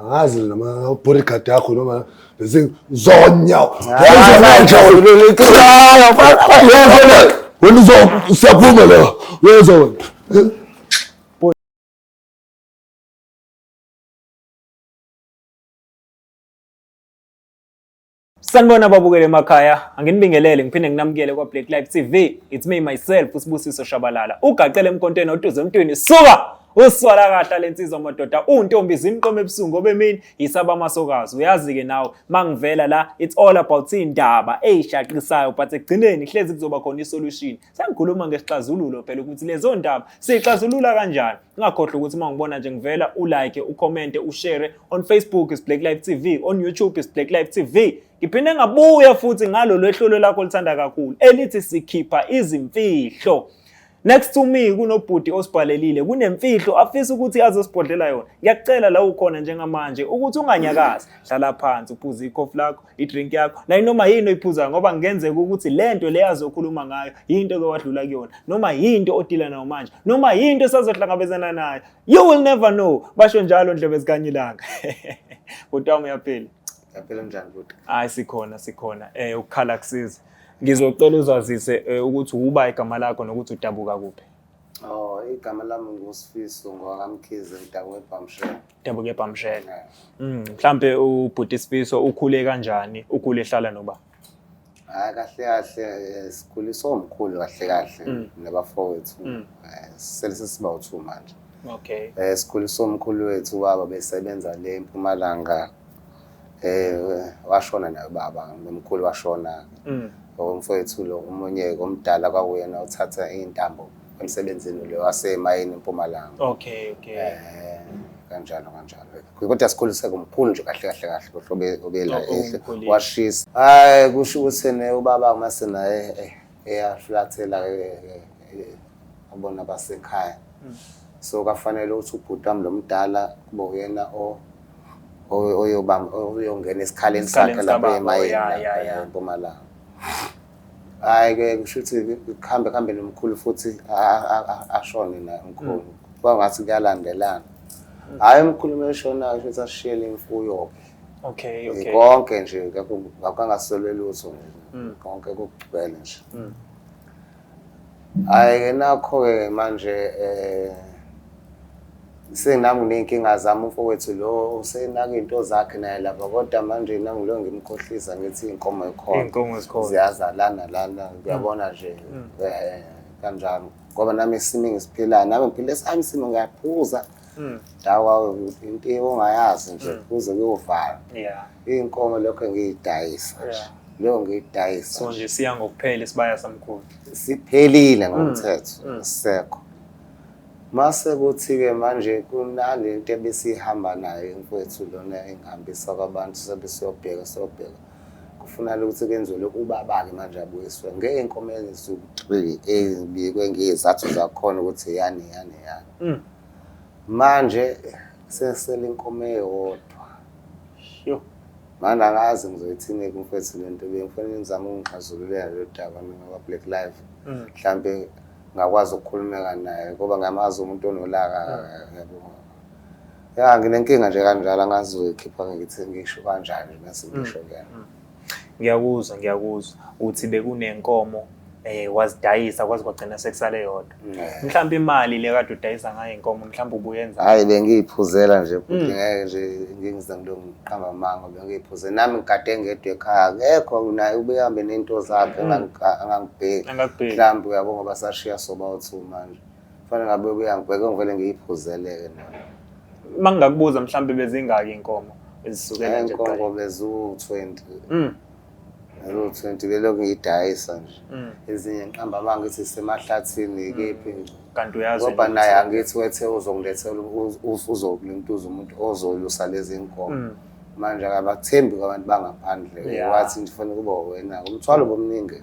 angazi noma bodyguard yakho noma lezi zonya wenza manje wena uzo usiyaphuma la wenza wena Sanibona babukele emakhaya, anginibingelele ngiphinde nginamukele kwa Black Life TV. It's me myself uSibusiso Shabalala. Ugaqele emkontweni oduze emntwini. Suka! Uswala kahla lensizwa madoda, untombi zimqoma ebusungu obemini yisaba amasokazi. Uyazi ke nawe, mangivela la, it's all about indaba eyshaqisayo but ekugcineni hlezi kuzoba khona isolution. Sengikhuluma ngesixazululo phela ukuthi lezo ndaba sixazulula kanjani. Ungakhohlwa ukuthi uma ngibona nje ngivela ulike, ucommente, ushare on Facebook is Black Life TV, on YouTube is Black Life TV. Ngiphinde ngabuya futhi ngalo lwehlolo lakho lithanda kakhulu elithi sikhipha izimfihlo. Next to me kunobhuti osibhalelile kunemfihlo afisa ukuthi azosibhodlela yona. Ngiyakucela la ukhona njengamanje ukuthi unganyakazi. Hlala phansi uphuze ikhofi lakho. idrink yakho nayinoma yini oyiphuzayo ngoba ngenzeka ukuthi le nto le azokhuluma ngayo yinto ke wadlula kuyona noma yinto odila nayo manje noma yinto esazohlangabezana nayo you will never know basho njalo ndlebe zikanyilanga kodwa uyaphila yaphela njani kodwa hayi sikhona sikhona eh ukukhala kusiza ngizocela uzazise eh, ukuthi uba igama lakho nokuthi udabuka kuphi Oh, igama lami nguSifiso ngwakamkhize ngidabuka eBhamshela. Yebo kepha mshele. Mm, mhlambe ubhuti Sifiso ukhule kanjani? Ukhule ehlala noba? Hayi kahle kahle eh, sikhuliswe omkhulu kahle kahle Mm. nabafowethu. Mm. Eh, Selise siba uthu manje. Okay. Eh sikhuliswe omkhulu wethu baba besebenza le eMpumalanga. Eh washona naye baba, nomkhulu washona. Mm. Umfowethu lo umunye omdala kwakuyena uthatha intambo emsebenzini ule wasemayini empumalanga okay okay eh kanjalo kanjalo kodwa sikhuliseke kumkhulu nje kahle kahle kahle kohlobo obela oh, ehle washisa hayi kusho ukuthi ne ubaba kumase naye eh, eyaflathela eh, eh, abona basekhaya hmm. so kafanele ukuthi ubhuti wami lomdala kube uyena o oyobamba oyongena esikhaleni sakhe lapha emayini empumalanga hayi ke kusho ukuthi kuhambe kuhambe nomkhulu futhi ashone naye umkhulu mm. kuba ngathi kuyalandelana mm. hhayi umkhulu uma eshonayo kusho ukuthi ashiyele imfuyo-ke okay okay konke nje ngakho angasolwe lutho nje mm. konke kugcwele nje Hhayi ke nakho-ke ke manje um senami nginey'nkinga zami umfowethu lo usenaka iy'nto zakhe naye lapha kodwa manje nangilo ngimkhohlisa ngithi iy'nkomo Iy'nkomo zikhona. ziyazalana lana kuyabona nje um kanjalo ngoba nami isimo engisiphilayo nami ngiphile esami isimo ngiyaphuza ndawa into ongayazi nje kuze kuyovalwa Yeah. Iy'nkomo lokho ngiyidayisa nje. Leyo ngiyidayisa. So nje siya ngokuphela isibaya samkhulu. Siphelile mm. ngomthetho, mm. sisekho. Mase kuthi-ke manje kunale nto ebesihamba nayo emfowethu lona engihambisa kwabantu sebesiyobheka siyobheka kufunala ukuthi kwenziwe lokhu ubaba-ke manje abuyiswe ngey'nkomo eziwu-three ezibikwe ngey'zathu zakhona ukuthi yani yani yani mm. Manje sesele inkomo eyodwa. Sho. Manje angazi ngizoyithini kumfethu le nto bengifanele ngizame ukungixazululela lolu daba mina kwa-black life mm. mhlawumbe ngakwazi ukukhulumeka naye ngoba ngiyamazi umuntu onolaka mm. yabona ya nginenkinga nje kanjalo angazi uyikhipha ngithi ngisho kanjani mase ngisho mm. kuyena Ngiyakuzwa ngiyakuzwa uthi bekunenkomo eh wazidayisa kwaze kwagcina sekusale yodwa. Eh. Mhlawumbe imali le kade udayisa ngayo inkomo mhlawumbe ubuyenza. Hayi bengiyiphuzela nje futhi Mm. ngeke nje ngingize ngilokuqamba amanga bengiyiphuze nami ngigade ngedwa ekhaya akekho naye ubehambe nento zakhe Mm. engangi- angangibheki Angakubheki. mhlawumbe uyabo ngoba sashiya sobawu-two manje Kufanele ngabe kuyangibheka ngivele ngiyiphuzeleke nami. Uma ngingakubuza mhlawumbe bezingaki inkomo ezisukela nje kuqala? Inkomo bezu-20. Mm. Bezu-20 belokhu ngiyidayisa nje. Mm. Ezinye ngiqamba uma ngithi semahlathini mm. kephi nje. Kanti uyazi ngoba naye angithi wethe uzongilethela uzokulintuza umuntu ozolusa lezi nkomo. Mm. Manje akabathembi kwabantu bangaphandle. Wathi ngifanele kuba wena. Umthwalo bomningi.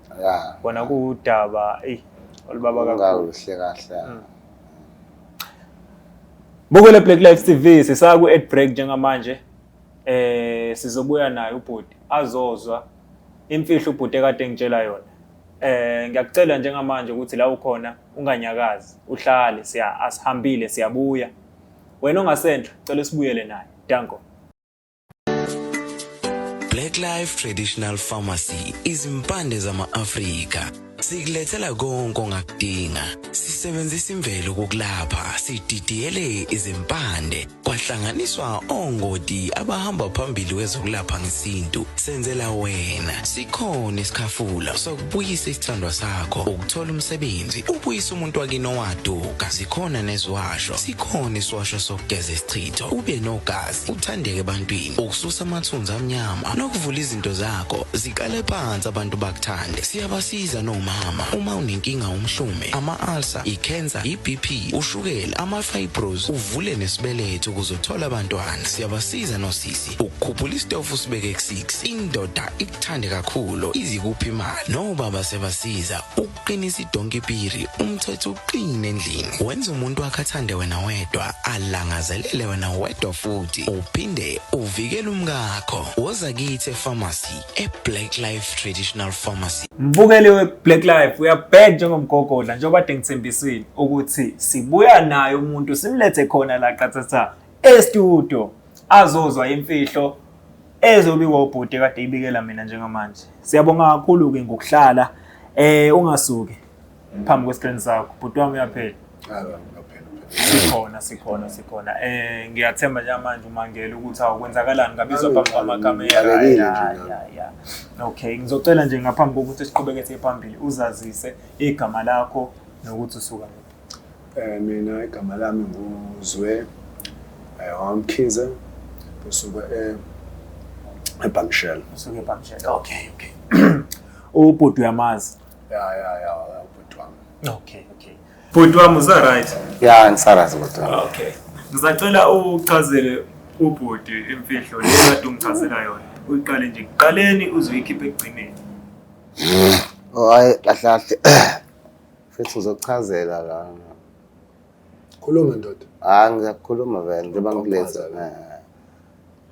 Yeah. Kona kuwudaba ey olubaba kakhulu. Ungahle kahle. Mm. Bukele Black Life TV sisaku at break njengamanje. Eh sizobuya naye ubhuti azozwa imfihlo ubhuti ekade ngitshela yona. Eh ngiyakucela njengamanje ukuthi la ukhona unganyakazi uhlale siya asihambile siyabuya. Wena ongasendla cela sibuyele naye. Danko. Black Life Traditional Pharmacy izimpande zama-Afrika sikulethela konke ongakudinga sisebenzisa imvelo kokulapha sididiyele izimpande kwahlanganiswa ongoti abahamba phambili kwezokulapha ngesintu senzela wena sikhona isikhafula sokubuyisa isithandwa sakho ukuthola umsebenzi ubuyisa umuntu wakini owaduka sikhona neziwasho sikhona isiwasho sokugeza isichitho ube nogazi uthandeke ebantwini ukususa amathunzi amnyama nokuvula izinto zakho ziqale phansi abantu bakuthande siyabasiza nomama uma unenkinga umhlume ama-ulcer i-cancer i-bp ushukela ama-fibros uvule nesibeletho ukuze uthole abantwana siyabasiza nosisi ukukhuphula isitofu usibeke ku-6 indoda ikuthande kakhulu izikuphi imali nobaba sebasiza qinisa idonki piri umthetho uqine endlini wenza umuntu wakhe athande wena wedwa alangazelele wena wedwa futhi uphinde uvikele umkakho woza kithi epharmacy eblack life traditional pharmacy mbukeli weblack life uyabheka njengomgogodla njengoba de ngithembisile ukuthi sibuya naye umuntu simlethe khona la qathatha estudio azozwa imfihlo ezobikwa ubhuti kade ibikela mina njengamanje siyabonga kakhulu ke ngokuhlala eh ungasuki phambi kwescreen sakho bhuti wami uyaphela sikhona sikhona sikhona eh ngiyathemba njengamanje umangele ukuthi awukwenzakalani ngabizwa phambi kwamakamera ya okay ngizocela nje ngaphambi kokuthi siqhubeke siye phambili uzazise igama lakho nokuthi usuka Eh mina igama lami nguZwe eh wamkhize kusuka eh eBangshell. Usuke eBangshell. Okay, okay. Ubhuti uyamazi. Ya ya ya ubhuti wami. Okay, okay. Bhuti wami uza right? Ya ngisarazi bhuti wami. Okay. Ngisacela uchazele ubhuti imfihlo le kade ungichazela yona. Uyiqale nje kuqaleni uzoyikhipha ekugcineni. Oh hayi kahle kahle. Mfethu uzokuchazela la. Khuluma ndoda. Hayi ngiyakukhuluma vele njengoba ngikuleza.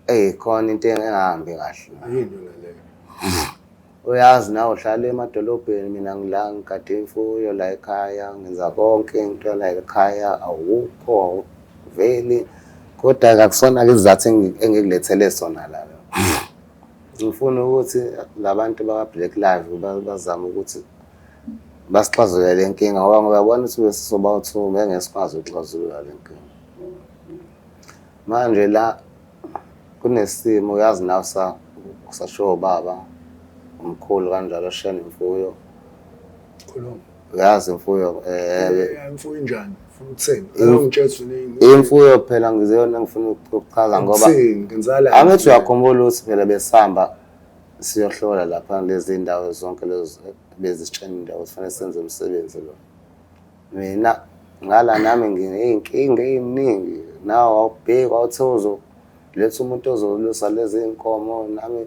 Eh khona into engahambi kahle. Yini yona leyo? Uyazi nawe uhlala emadolobheni mina ngila ngigade imfuyo la ekhaya ngenza konke into la ekhaya awukho veli kodwa kakusona ke izathu engikulethele sona la. Ngifuna ukuthi labantu bakwa Black Live bazama ukuthi basixazulule le nkinga ngoba ngoba yabona ukuthi besizoba uthu ngeke sikwazi ukuxazulula le nkinga manje la kunesimo uyazi nawe sa kusashiwo ubaba umkhulu kanjalo shena imfuyo khuluma uyazi imfuyo eh imfuyo injani ufuna ukuthini ayongitshela uningi imfuyo phela ngizeyona ngifuna ukuchaza ngoba angithi uyakhumbula ukuthi phela besihamba Siyohlola lapha lezi ndawo zonke lezi bezisitshenile ukuthi fanele senze umsebenzi lo. Mina ngala nami nginey'nkinga ey'ningi nawe wawubheki wawuthe uzoletha umuntu ozolusa lezi y'nkomo nami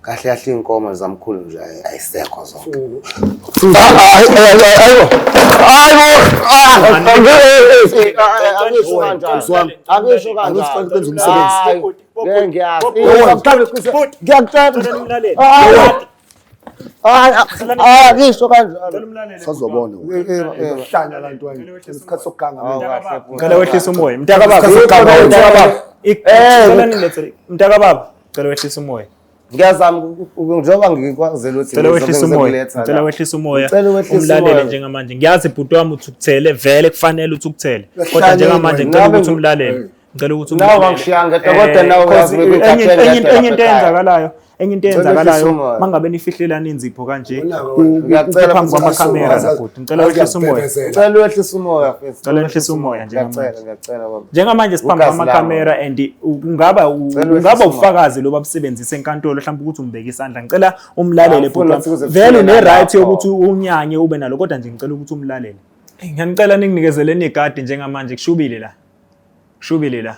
kahle kahle iy'nkomo zamkhulu nje ayisekho zonke angisho kanjani angisho kanjani ngisho kanjalohlanya la ntwana isikhathi sokuganga ngicela wehlisa umoya mntakababa mntakababa cela wehlisa umoya ngiyazama njengoba ngikwazela ukuthi cela wehlisa umoya cela wehlisa umoya umlalele njengamanje ngiyazi bhuti wami uthi ukuthele vele kufanele uthi ukuthele kodwa njengamanje ngicela ukuthi umlalele ngicela ukuthi umlalele nawe ngishiya ngedwa kodwa nawe uyazi ukuthi enye into eyenzakalayo enye into eyenzakalayo mangabe nifihlelana inzipho kanje phambi kwamakhamera Ngicela wehlise umoya. Ngicela wehlise umoya mfethu. Ngicela wehlise umoya njengamanje. Ngiyacela ngiyacela baba. Njengamanje siphambi kwama camera and ungaba ungaba ufakazi loba busebenzise enkantolo mhlawumbe ukuthi umbeke isandla. Ngicela umlalele bhuti. Vele ne right yokuthi unyanye ube nalo kodwa nje ngicela ukuthi umlalele. Ngiyanicela ninginikezele negadi njengamanje kushubile la. Kushubile la.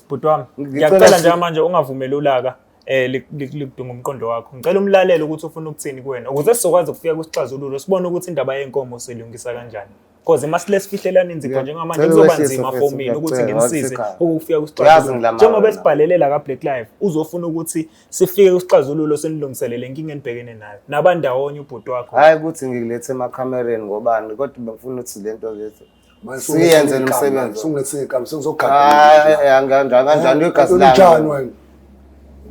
bhuti wami ngiyacela njengamanje ungavumeli ulaka eh likudunga umqondo wakho ngicela umlalele ukuthi ufuna ukuthini kuwena ukuze sizokwazi ukufika kwisixazululo sibone ukuthi indaba yenkomo silungisa kanjani because masile sifihlelana inzipho njengamanje kuzoba nzima for mina ukuthi ngimsize ukufika kwisixazululo njengoba esibhalelela ka Black Life uzofuna ukuthi sifike kwisixazululo senilungiselele inkinga enibhekene nayo nabandawonye ubhuti wakho hayi ukuthi ngikulethe emakhamereni ngobani kodwa bengifuna ukuthi lento lethu siyenze nomsebenzi ungesikami sengizogaanjani wegazi lanjani wena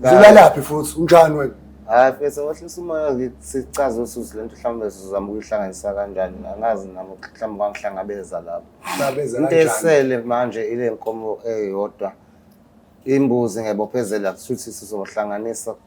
zilalaphi futhi unjani wena hayi fesa wahlisa umoya sicaze usuzi lento mhlawumbe sizama ukuyihlanganisa kanjani angazi nami mhlawumbe kwangihlangabeza lapho into esele manje ile nkomo eyodwa imbuzi ngebophezela kushuthi sizohlanganisa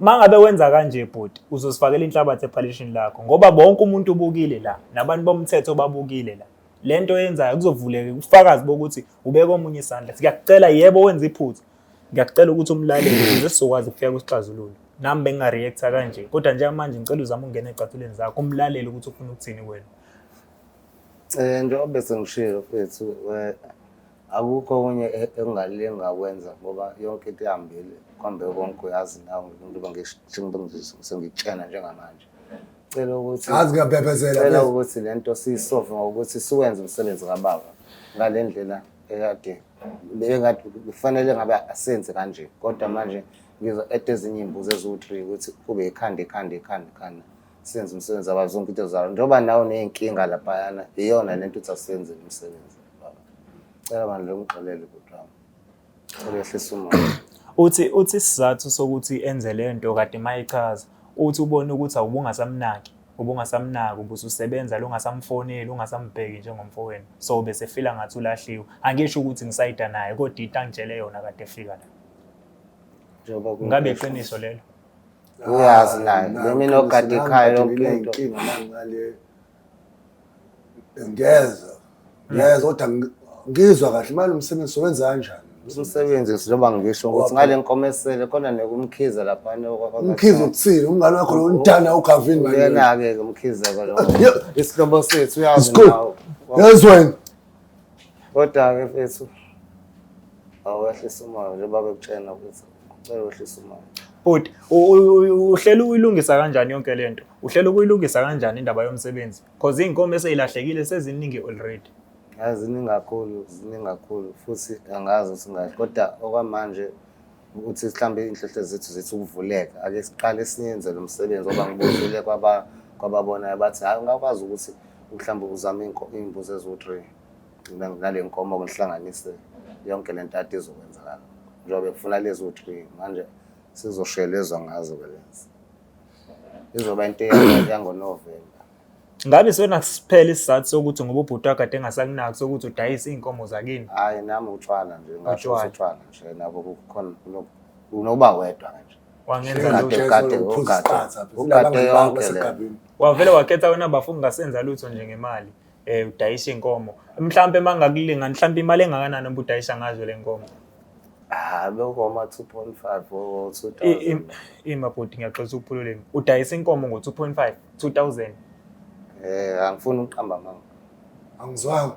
uma ngabe wenza kanje bhuti uzosifakela inhlabathi ephalishini lakho ngoba bonke umuntu ubukile la nabantu bomthetho babukile la le nto yenzayo kuzovuleka ubufakazi bokuthi ubeka omunye isandla siyakucela yebo wenza iphutha ngiyakucela ukuthi umlaleli ukuze sizokwazi ukufika kwisixazululo nami bengingareacta kanje kodwa njengamanje ngicela uzame ukungena ecathuleni zakho umlaleli ukuthi ufuna ukuthini kwena um njengoba besengishilo fethu eh, Akukho okunye e- engingalinga kwenza ngoba yonke into ihambile kwambe konke uyazi nawe njengoba ngish- njengoba ngi- sengitshena njengamanje cela ukuthi Azi ngiyabhebhezela, cela please. ukuthi le nto siyisove ngokuthi siwenze umsebenzi kababa ngale ndlela ekade bekade kufanele ngabe asenze kanje kodwa manje ngizo et ezinye iy'mbuzi eziwu-three ukuthi kube ikhanda ikhanda ikhanda ikhanda senze umsebenzi waba zonke into zalo njengoba nawe uney'nkinga laphayana iyona le nto ukuthi asenzele umsebenzi Cela bandla ungixolele bhuti wami. Cela yehlisa umoya. Uthi uthi isizathu sokuthi enze le nto kade mayichaza uthi ubona ukuthi awubungasamnaki ubungasamnaki ubususebenza lungasamfoneli ungasambheki njengomfowenu so bese fila ngathi ulahliwe angisho ukuthi ngisayida naye kodwa into angitshele yona kade efika la Njengoba ku- ngabe iqiniso lelo Uyazi naye. Nami Nami nogada ikhaya yonke into. Inkinga nangale ngeza ngeza kodwa ngi- ngizwa kahle manje umsebenzi sowenza kanjani umsebenzi njengoba ngisho ukuthi ngale nkomesele khona nekumkhize laphana umkhize ukuthini umngane wakho lomdana ugavini manje uyena-ke ke umkhizeko lo Yo. isihlobo sethu uyazi Isikole. nawo yazi wena kodwa-ke fethu awehlisa umoya njengoba bekutshena ukuthi kucela wehlisa umoya bhuti u- u- u- uhlele uyilungisa kanjani yonke le nto Uhlela ukuyilungisa kanjani indaba yomsebenzi? Cause iy'nkomo eseyilahlekile seziningi already. Yazi ziningi kakhulu, ziningi kakhulu futhi angazi ukuthi ngathi kodwa okwamanje ukuthi mhlawumbe inhlohle zethu zithi ukuvuleka ake siqale esinyenze lo msebenzi ngoba ngibuzile kwaba kwababonayo bathi hayi ungakwazi ukuthi mhlawumbe uzame iy'nko- iy'mbuzi eziwu-three Ngina- nale nkomo ngihlanganise yonke le nto ade izokwenzakala njengoba kufuna lezi wu-three manje sizoshelezwa ngazo-ke lezi izoba into yangonovemba ngabe sona kusiphela isizathu sokuthi ngoba ubhuti wakade engasakunaki sokuthi udayise iy'nkomo zakini hhayi nami utshwala nje ngasho utshwala nje nabo kukhona unoba wedwa nje wavele wakhetha wena bafo ungasenza lutho nje ngemali eh udayisa inkomo mhlambe mangakulinga mhlambe imali engakanani ubudayisa ngazo lenkomo ah lokho ma 2.5 or 2000 ima bhuti ngiyaxoxa ukuphululeni udayisa inkomo ngo 2.5 2000 eh angifuni uqamba manga angizwanga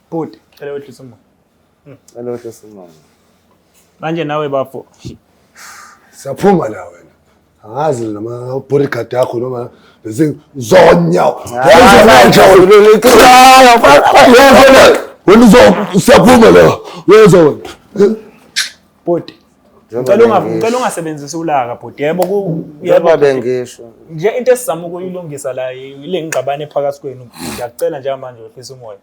Bhuti, cela wehlisa umoya. Hmm. Cela wehlisa umoya. Manje nawe bafo. Siyaphuma la wena. Angazi noma bodyguard yakho noma lezi zonya. Wenza manje uliqala. Wena uzo siyaphuma la. Wenza wena. Bhuti. Ngicela unga ngicela ungasebenzisi ulaka bhuti. Yebo ku yebo bengisho. Nje into esizama ukuyilungisa la ile ngigqabane phakathi kwenu. Ngiyacela njengamanje wehlisa umoya.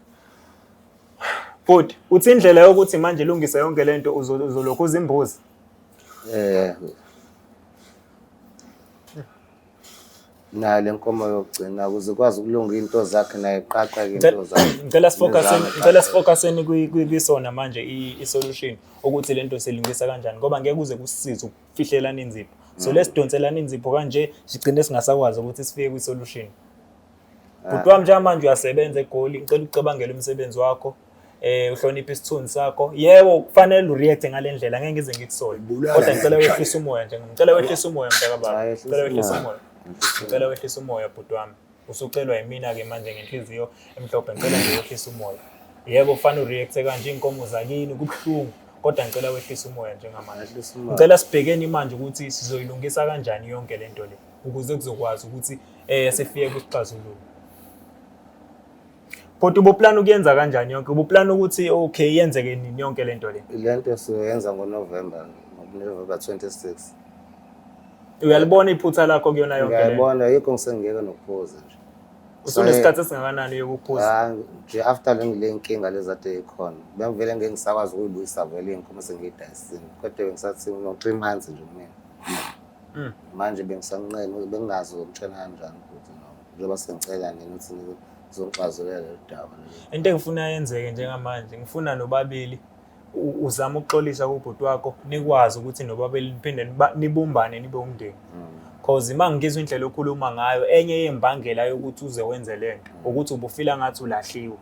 Bhuti, uthi indlela yokuthi manje ilungise yonke le nto uzo- uzolokhu uzimbuzi. Eh. Nayo le nkomo yokugcina ukuze ikwazi ukulunga into zakhe naye iqaqe into Ngicela- zakhe. Ngicela sifocuseni, Nezami ngicela iqaqe. sifocuseni kwi- kwi- kwisona manje i- i-solution ukuthi le nto silungisa kanjani ngoba ngeke kuze kusize ukufihlelana inzipho. So lesidonselana inzipho kanje sigcine singasakwazi ukuthi sifike kwi-solution. Bhuti wami njengamanje uyasebenza egoli ngicela ucabangele umsebenzi wakho eh uhloniphe isithunzi sakho yebo kufanele ureact ngalendlela ngeke ngize ngikusole kodwa ngicela wehlisa umoya nje ngicela wehlisa umoya mntaka baba ngicela wehlisa umoya ngicela wehlisa umoya bhuti wami usucelwa yimina ke manje ngenhliziyo emhlophe ngicela nje wehlisa umoya yebo kufanele ureact kanje inkomo zakini kubuhlungu kodwa ngicela wehlisa umoya njengamanje ngicela sibhekeni manje ukuthi sizoyilungisa kanjani yonke lento le ukuze kuzokwazi ukuthi eh sifike kusixazululo kodwa ubuplana ukuyenza kanjani yonke ubuplana ukuthi okay yenzeke nini yonke lento le lento siyoyenza ngoNovember ngoNovember 26 uyalibona iphutha lakho kuyona yonke lento ngiyabona yikho ngisengiyeke nokuphuza nje usunesikhathi esingakanani yokuphuza ah, nje after le ngile inkinga lezade ikhona bengivele ngeke ngisakwazi ukuyibuyisa vele inkomo sengiyidayisile kodwa bengisathi ngo 3 months nje mina Mm. manje bengisanqeni bengingazi ukumtshela kanjani futhi no njengoba sengicela nina ukuthi nizongixazulele lolu daba into engifuna yenzeke njengamanje ngifuna nobabili uzama ukuxolisa kubhuti wakho nikwazi ukuthi nobabili niphinde nibumbane nibe umndeni mm. cause uma ngizwa indlela okhuluma ngayo enye yembangela yokuthi uze wenze le nto mm. ukuthi ubufila ngathi ulahliwe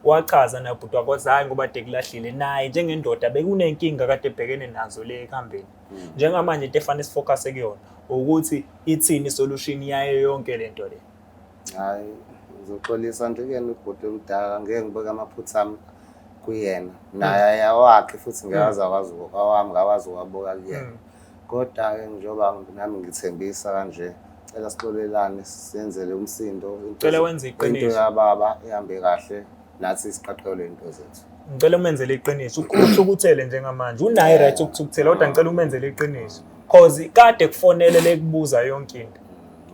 wachaza nabhuti wakho zayi ngoba dekulahlile naye njengendoda bekunenkinga kade ebhekene nazo le ekuhambeni njengamanje into efanele sifocuse kuyona ukuthi ithini isolution yayo yonke lento le hayi ngizoxolisa nje kuyena ubhuti omdala ngeke ngibeke amaphutha ami kuyena naye hmm. ayawakhe futhi ngeke aze akwazi awami ngakwazi ukuwabuka kuyena hmm. kodwa-ke njengoba nami ngithembisa kanje cela sixolelane senzele umsindo cela wenze iqiniso into yababa ihambe kahle nathi siqaqelwe into zethu ngicela umenzele iqiniso ukusho ukuthele njengamanje unaye right ukuthi ukuthele kodwa ngicela umenzele iqiniso cause kade kufonele lekubuza yonke into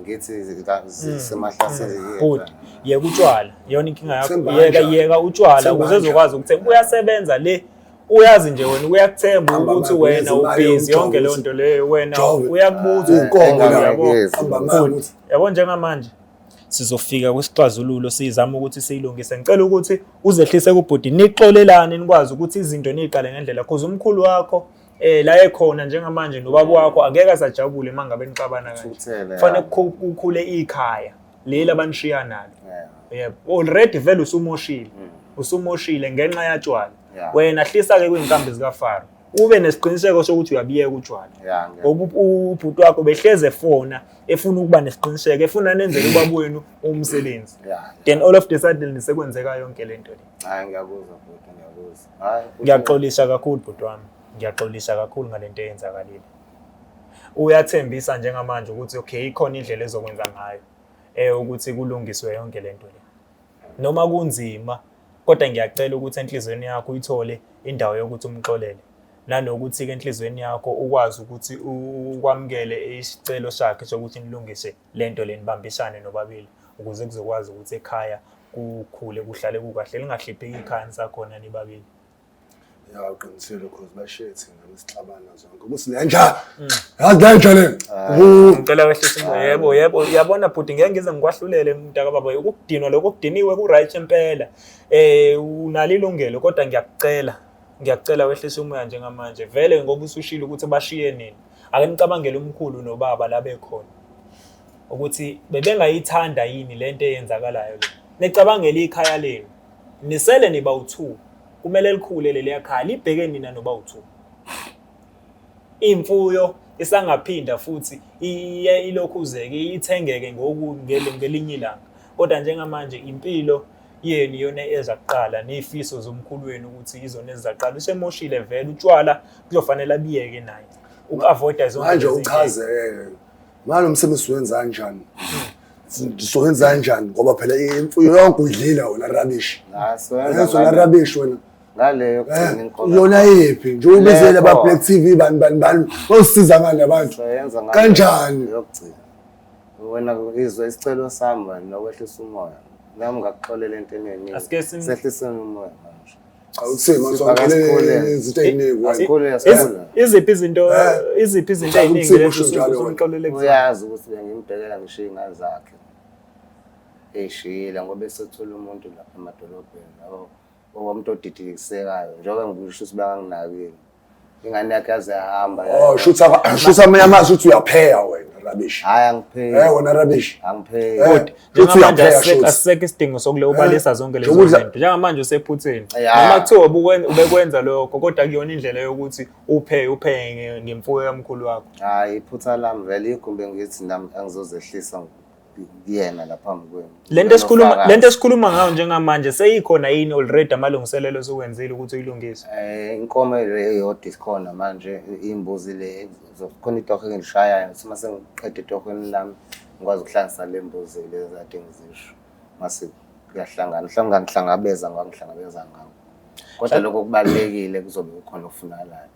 ngithi mm. semahlaseli mm. good yeka utshwala yona inkinga yakho yeka yeka utshwala ukuze uzokwazi ukuthenga kuyasebenza le uyazi nje wena uyakuthemba ukuthi wena ubhizi yonke leyo nto leyo wena uyakubuza uqongo yabo yabo njengamanje sizofika kwisixazululo sizama ukuthi siyilungise ngicela ukuthi uzehlise kubhuti nixolelane nikwazi ukuthi izinto niyiqale ngendlela cause umkhulu wakho eh la ekhona njengamanje nobaba wakho angeke asajabule mangabe nixabana kanje kufanele kukhule ikhaya leli abanishiya nalo yebo already vele usumoshile mm. usumoshile ngenxa yatshwala wena hlisa ke kwinkambi zika Faro ube nesiqiniseko sokuthi uyabiyeka utshwala ubhuti wakho behleze fona efuna ukuba nesiqiniseko efuna nenzele ubaba wenu umsebenzi then all of the sudden sekwenzeka yonke le nto le hayi ngiyakuzwa bhuti ngiyakuzwa hayi ngiyaxolisa kakhulu bhuti wami ngiyaxolisa kakhulu ngale nto eyenzakalile uyathembisa njengamanje ukuthi okay ikhona indlela ezokwenza ngayo eh ukuthi kulungiswe yonke le nto le Noma kunzima, kodwa ngiyacela ukuthi enhlizweni yakho uyithole indawo yokuthi umxolele. Nanokuthi-ke enhlizweni yakho ukwazi ukuthi ukwamukele isicelo sakhe sokuthi nilungise le nto le nibambisane nobabili ukuze kuzokwazi ukuthi ekhaya kukhule kuhlale kukahle lingahlipheki ikhaya nisakhona nibabili. Ya uqinisile cause bashiye thina besixabana zonke. Ukuthi lenja. Mm. Yazi lenja le. Ah. Ngicela wehlisa imoya. Ah. Yebo, yebo. Yabona bhuti ngeke ngize ngikwahlulele mntaka baba. Ukudinwa lokho kudiniwe ku right impela. Eh unalo ilungelo kodwa ngiyakucela. Ngiyakucela wehlisa umoya njengamanje. Vele ngoba usushilo ukuthi bashiye nini. Ake nicabangele umkhulu nobaba la bekhona. Ukuthi bebengayithanda yini lento eyenzakalayo le. Nicabangele ikhaya lenu. Nisele nibawu-two kumele likhule leliya khaya libheke nina nobawu-two. Imfuyo isangaphinda futhi iye ilokhuzeke ithengeke ngoku ngele- ngelinye ilanga. Kodwa njengamanje impilo yenu iyona eza kuqala ney'fiso zomkhulu wenu ukuthi izona eziza kuqala. Usemoshile vele utshwala kuzofanele abiyeke naye uku-avoida zonke Manje lezi zinto. uchazeke ngalo msebenzi siwenza kanjani sizowenza kanjani ngoba phela imfuyo yonke uyidlile wena rubbish yona rubbish wena ngaleyo eh, yona yephi nje ubizele ba Black TV bani bani bani osiza ngani abantu kanjani yokugcina wena izwe isicelo sami wena nokwehlisa umoya nami ngakuxolela into eningi sehlisa umoya awusima Sipha sonke kasikhule. izinto eziningi wena Asikhule, Iz- asikhule. iziphi izinto Eh. iziphi izinto Uhlala eziningi umsibo, lezi usho njalo wena. uzomxolele kuzona uyazi ukuthi bengimbhekela ngisho iy'ngane zakhe ey'shiyile ngoba esethole umuntu lapha emadolobheni yabo okwamntu odidikisekayo njengoba ngikusho ukuthi bakanginakile ingane yakhe yaze yahamba oh shutha shutha mina mazi ukuthi uyapheya wena rubbish hayi angipheki eh wena rubbish angipheki kodwa njengamanje asisekho isidingo sokule ubalisa eh, zonke lezo zinto njengamanje usephutheni noma kuthiwa ubekwenza lokho kodwa kuyona indlela yokuthi uphe uphe ngemfuyo yamkhulu wakho hayi iphutha lami vele igumbe ngithi nami angizozehlisa kuyena la phambi kwenu. Lento esikhuluma lento esikhuluma ngayo njengamanje seyikhona yini already amalungiselelo esiwenzile ukuthi uyilungise. Eh inkomo le yodwa isikhona manje imbuzi le zokhona itoho engishayayo sima sengiqede itohweni lami ngikwazi ukuhlangisa le mbuzi le zade ngizisho. Mase kuyahlangana mhlawumbe ngihlangabeza ngoba ngihlangabeza ngawo. Kodwa lokho kubalekile kuzobe kukhona ofunalayo.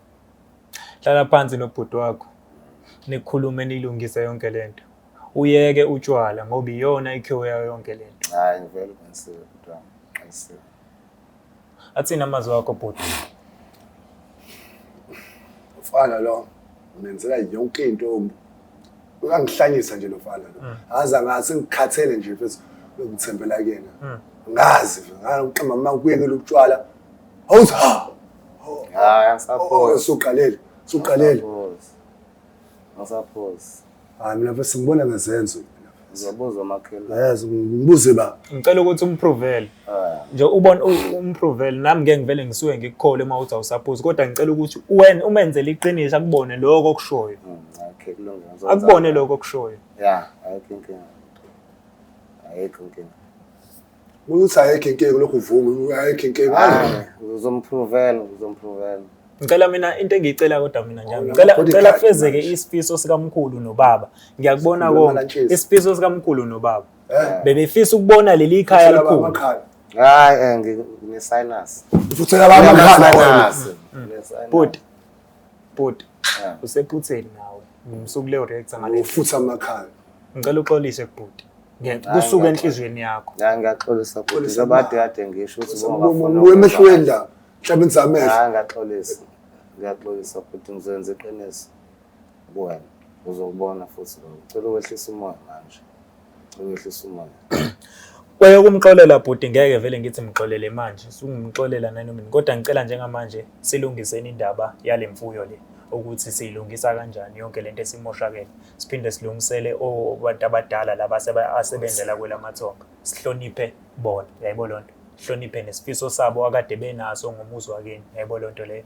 Hlala phansi nobhuti wakho. Nikhulume nilungise yonke lento. uyeke utshwala ngoba iyona ikhiwo yayo yonke le nto hayi ngivele uqinisile bhuti wami uqinisile athini amazwi akho bhuti mfana lo ungenzela yonke into um, uyangihlanyisa nje lo mfana lo Mm. aza ngathi ngikhathele nje futhi bekuthembela kuyena Mm. ngazi ngaqamba uma kuyekela ukutshwala awuza hayi angisaphosi usuqalele usuqalele Angisaphosi. Ngisaphosa. Hayi mina mfethu ngibona ngezenzo. Ngiyabuza umakhelwane. Yes, ngibuze ba. Ngicela ukuthi umpruvele. Ah. Nje ubona umpruvele nami ngeke ngivele ngisuke ngikukhole uma uthi awusaphosi kodwa ngicela ukuthi wena umenzele iqiniso akubone lokho okushoyo. Hmm, okay, kulungile. Akubone lokho okushoyo. Yeah, I think. Ayikho inkinga. ukuthi ayekho inkinga lokhu uvuma ayekho inkinga ah, uzomprovela uzomprovela ngicela mina into engiyicela kodwa mina njalo ngicela ngicela kufezeke isifiso sikamkhulu nobaba ngiyakubona konke isifiso sikamkhulu nobaba eh. bebefisa ukubona leli khaya likhulu hayi eh, ngine sinus ufuthela baba amakhala bhuti bhuti eh. usephutheni nawe ngimsuku le reactor ngale ufutha amakhala ngicela uxolise kubhuti kusuka enhliziyweni yakho hayi ngiyaxolisa bhuti njengoba kade kade ngisho ukuthi wemehlweni la mhlawumbe ngizamehlo hayi ngiyaxolisa ngiyaxolisa bhuti ngizoyenza iqiniso kuwena uzokubona futhi ngicela ukwehlisa umoya manje ngicela ukwehlisa umoya kwaye ukumxolela bhuti ngeke vele ngithi mxolele manje sungimxolela nanoma kodwa ngicela njengamanje silungiseni indaba yale mfuyo le ukuthi siyilungisa kanjani yonke lento esimoshakele siphinde silungisele abantu abadala laba asebenzela kwelamathonga sihloniphe bona yayibo loo nto sihloniphe nesifiso sabo akade benaso ngomuzi wakini yayibo loo nto leyo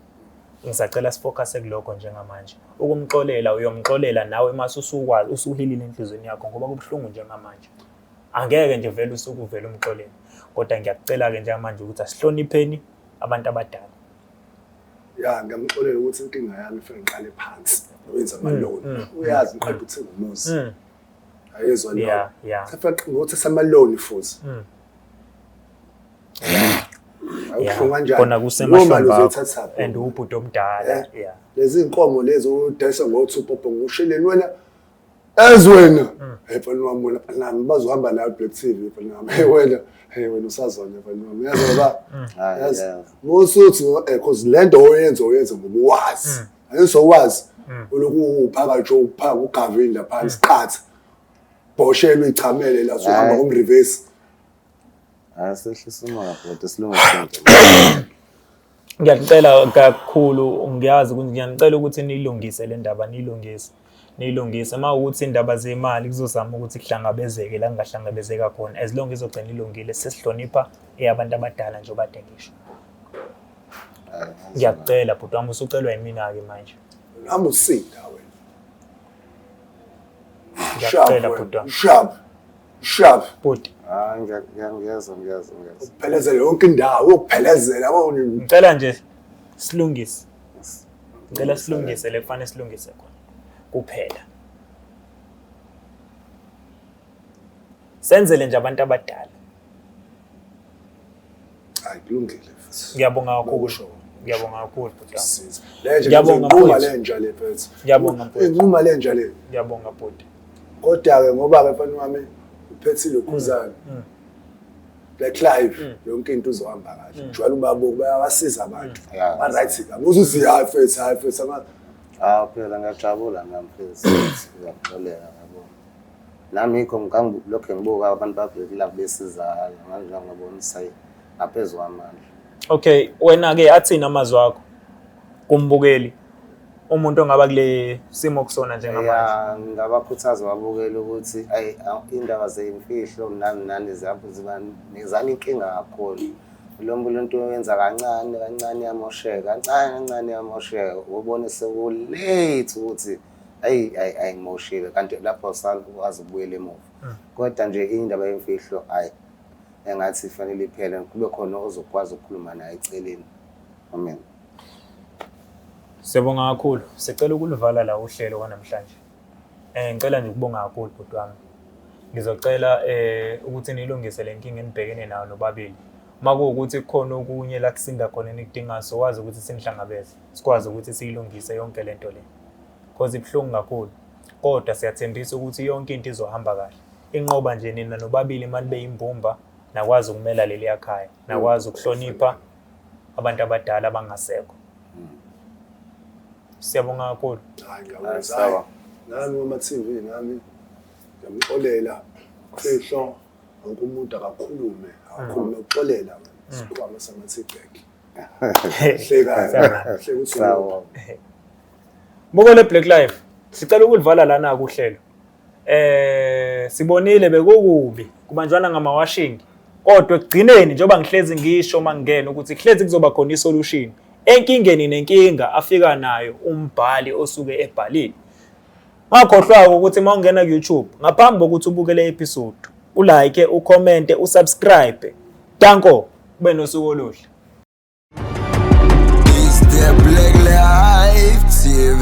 ngisacela sifocuse kulokho njengamanje ukumxolela uyomxolela nawe mase usukwazi usuhilile enhlizweni yakho ngoba kubuhlungu njengamanje angeke nje vele usuke uvele umxolele kodwa ngiyakucela-ke njengamanje ukuthi asihlonipheni abantu abadala ya ngamxolela ukuthi inkinga yami fike ngiqale phansi wenza mm, amaloni mm, uyazi mm, ngiqeda ukuthenga umuzi ayezwa leyo safika ngothi samaloni futhi awuhlungu kanjani kona kusemashoni bakho and ubhuti omdala eh? lezi inkomo lezi udayisa ngo-two popo ngusheleni wena as wena mm. hey mfana wami wena mfana wami bazohamba nayo black tv mfana wami hey wena hey wena usazona mfana wami yazi ba mm. yazi musuthi eh cause lento oyenza oyenza ngokuwazi ayenso mm. wazi uloku uphaka nje uphaka ugavinda phansi qatha bhoshelwe ichamele la sohamba ngom reverse asehlisa umoya kodwa silungisa Ngiyanicela kakhulu ngiyazi ukuthi ngiyanicela ukuthi niyilungise le ndaba niyilungise niyilungise uma ukuthi indaba zemali kuzozama ukuthi kuhlangabezeke la kungahlangabezeka khona as long izogcina ilungile sesihlonipha eyabantu abadala nje obade ngisho ngiyakucela bhuti wami usucelwa yimina-ke manje nami usinda wena ngiyakucela bhuti wami Shiyaphi? Bhuti. Hayi ngiyangeza ngiyangeza ngiyangeza. Uphelezela yonke indawo, uphelezela wawuni. Ngicela nje silungise. Ngicela silungise le kufanele silungise khona. Kuphela. Senzele nje abantu abadala. hayi kulungile futhi ngiyabonga kakhulu Ukusho. ngiyabonga kakhulu bhuti wami. Siza. Le nje Ngiyabonga, inquma mfowethu. le nja le mfethu Ngiyabonga, mfowethu. inquma le nja le ngiyabonga bhuti kodwa-ke ngoba-ke mfana wami uphethile ukhuzane Mm. black clive Mm. yonke into uzohamba kahle Mm. jwala ubabuku bayabasiza abantu Yeah. ba-right kabi uzuthi hayi fethu hayi fethu ama- Ah, phela ngiyajabula nami phela siyakuxolela yabo. Nami yikho ngangilokhe ngibuka abantu babhekile kubesizakala manje ngabona isayi ngaphezu kwamandla. Okay, wena ke athini amazwi akho kumbukeli umuntu ongaba kule simo kusona njengamanje? Ya, ngabakhuthaza babukele ukuthi ayi indaba zeyimfihlo nani nani zabo ziba nezani inkinga kakhulu. Lo mbulo into yenza kancane kancane yamosheka, kancane kancane yamosheka. Ubone sekulate ukuthi ayi ayi ayimoshile kanti lapho sawazi ukubuyela emuva hmm. kodwa nje indaba yemfihlo ayi engathi ifanele iphele kube khona ozokwazi ukukhuluma naye eceleni amen Siyabonga kakhulu. Sicela ukulivala la uhlelo kwanamhlanje. Eh ngicela nje ukubonga kakhulu bhuti wami. Ngizocela eh ukuthi nilungise le nkinga enibhekene nayo nobabili. Uma kuwukuthi kukhona okunye la kusinda khona enikudingayo sokwazi ukuthi sinihlangabeze. sikwazi ukuthi siyilungise yonke lento le cause ibuhlungu kakhulu kodwa siyathembisa ukuthi yonke into izohamba kahle inqoba nje nina nobabili imali beyimbumba nakwazi ukumela leli yakhaya nakwazi ukuhlonipha abantu abadala abangasekho siyabonga kakhulu hayi ngiyakwenza nami kuma TV nami ngiyamxolela fihlo wonke umuntu akakhulume akakhulume uxolela isikhwama samathibheki Sawa. Mukole Black Life. Sicela ukulivala lana kuhlelo. Eh sibonile bekukubi kubanjwana ngamawashingi. Kodwa ekugcineni njengoba ngihlezi ngisho uma ngingena ukuthi kuhlezi kuzoba khona isolution enkingeni nenkinga afika nayo umbhali osuke ebhalile. Ungakhohlwa ukuthi uma ungena ku-YouTube ngaphambi kokuthi ubuke le episode ulike, ucommente, usubscribe. Danko, ube nosuku oluhle. Is there black life TV?